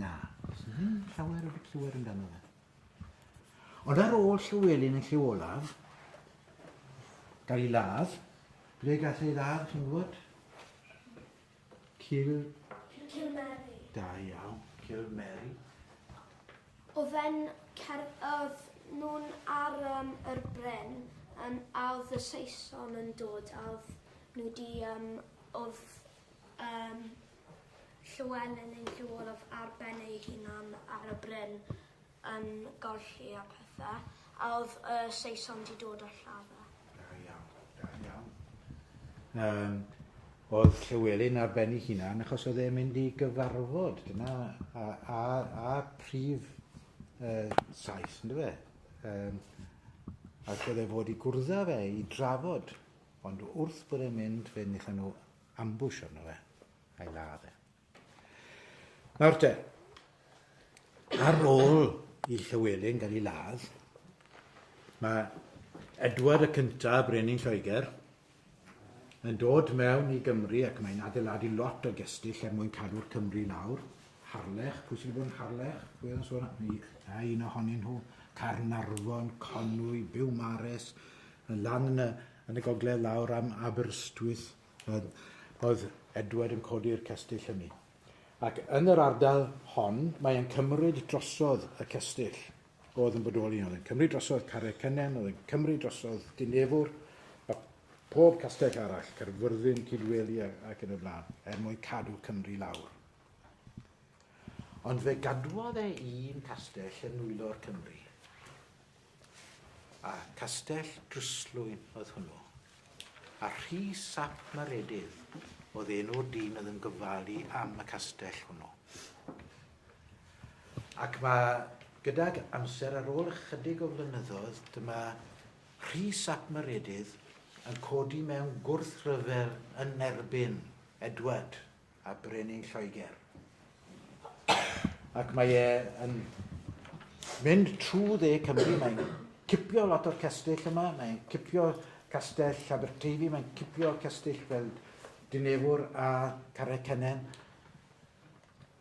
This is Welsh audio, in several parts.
Na, does na ddim llawer wedi clywed amdano fe. Ond ar ôl Llywelyn yn lliw olaf, gael ei ladd, ble gath ei ladd, chi'n gwybod? Cil... Cil Mary. Da iawn, Cil Mary. O fe'n cer... Oedd nhw'n ar um, yr bren, um, a oedd y Saeson yn dod, a oedd nhw wedi... Um, oedd... Um, Llywelyn yn Llywodraeth ar ben ei hunan ar y bryn yn golli a phethe, a oedd y Saeson 'di dod â llafar. Da iawn, da iawn. Yym, oedd Llywelyn ar ben ei hunan achos oedd e'n mynd i gyfarfod, dyna a, a, a prif uh, saith, ynddo fe? Um, ac oedd e fod i gwrdda fe, i drafod. Ond wrth bod e'n mynd, fe nillan nhw ambush arno fe, a'i ladd e. Nawr te, ar ôl i Llywelyn gael ei ladd, mae Edward y Cynta, Brenin Lloegr, yn dod mewn i Gymru ac mae'n adeiladu lot o gestyll er mwyn cadw'r Cymru i lawr. Harlech, pwy sydd wedi bod yn Harlech? Pwy oedd yn sôn am a un ohonyn nhw? Caernarfon, Conwy, Biwmares, yn lan yn y Yn y gogledd lawr am Aberystwyth oedd Edward yn codi'r cestyll hynny. Ac yn yr ardal hon mae e'n cymryd drosodd y cestyll oedd yn bodoli. Oedd e'n cymryd drosodd Carreg Cynnen, oedd e'n cymryd drosodd Dinefwr, a pob castell arall, Caerfyrddin, Cydweli ac yn y blaen, er mwyn cadw Cymru lawr. Ond fe gadwodd e un castell yn nwylo'r Cymru. A castell drystlwyn oedd hwnnw. A Rhy Sap Maredydd oedd enw'r dyn oedd yn gofalu am y castell hwnnw. Ac mae gydag amser ar ôl ychydig o flynyddoedd, dyma Rhy Sap Maredydd yn codi mewn gwrthryfel yn erbyn Edward a brenin Lloegr. Ac mae e yn mynd trwy dde Cymru, mae'n cipio lot o'r castell yma, mae'n cipio castell Aberteifi, mae'n cipio castell fel Dinefwr a Carecenen.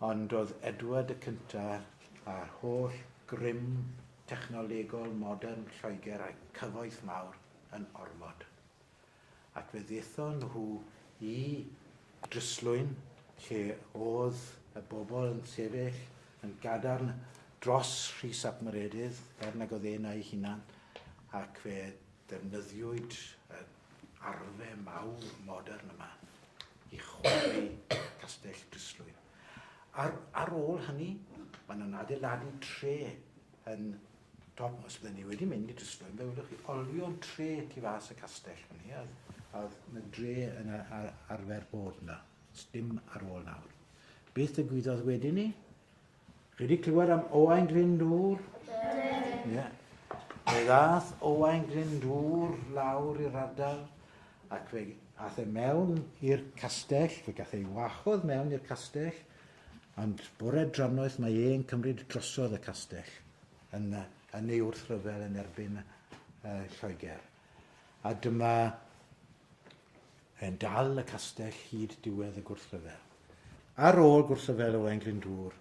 Ond oedd Edward y cyntaf a'r holl grym technolegol modern Lloegr a'i cyfoeth mawr yn ormod. ac fe ddaethon nhw i Dryslwyn lle oedd y bobl yn sefyll yn gadarn dros Rhys ap Meredydd er nag oedd e'n a'i hunan ac fe ddefnyddiwyd yr arfe mawr modern yma i chwalu Castell Dryslwyn. Ar, ar ôl hynny, maen nhw'n adeiladu tre yn dod mas bydden ni wedi mynd i drysfa yn fewlwch i olio'r tre tu fas y castell fan ni oedd oedd na dre yn ar, arfer bod yna dim ar ôl nawr beth y gwyddodd wedyn ni chi wedi clywed am Owain Glyndŵr? Ie. Yeah. Fe ddath Owain Glyndŵr lawr i'r ardal ac fe ath e mewn i'r castell, fe gath ei wahodd mewn i'r castell Ond bore drannoeth mae e'n cymryd drosodd y castell yn yn ei wrthryfel yn erbyn yy Lloegr. A dyma yn dal y castell hyd diwedd y gwrthryfel. Ar ôl gwrthryfel Owain Glyndŵr,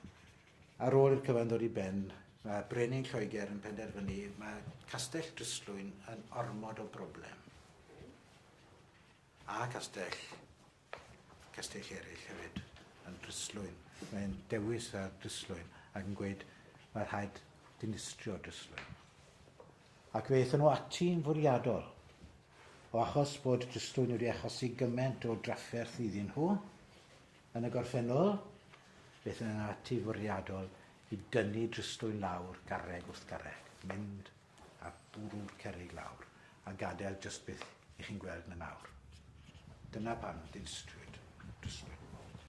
ar ôl i'r cyfan ddod i ben, mae brenin Lloegr yn penderfynu mae castell Dryslwyn yn ormod o broblem. A castell cestyll eraill hefyd yn drystlwyn. Mae'n dewis ar drystlwyn ac yn gweud mae rhaid dinistrio drystlwyn. Ac fe aethon nhw ati'n fwriadol. O achos bod drystlwyn wedi achosi gymaint o drafferth iddyn nhw, yn y gorffennol, fe aethon nhw ati fwriadol i dynnu drystlwyn lawr garreg wrth garreg, mynd a bwrw'r cerrig lawr a gadael jyst beth 'y chi'n gweld 'na nawr. Dyna pam dinistriwyd, dinistriwyd.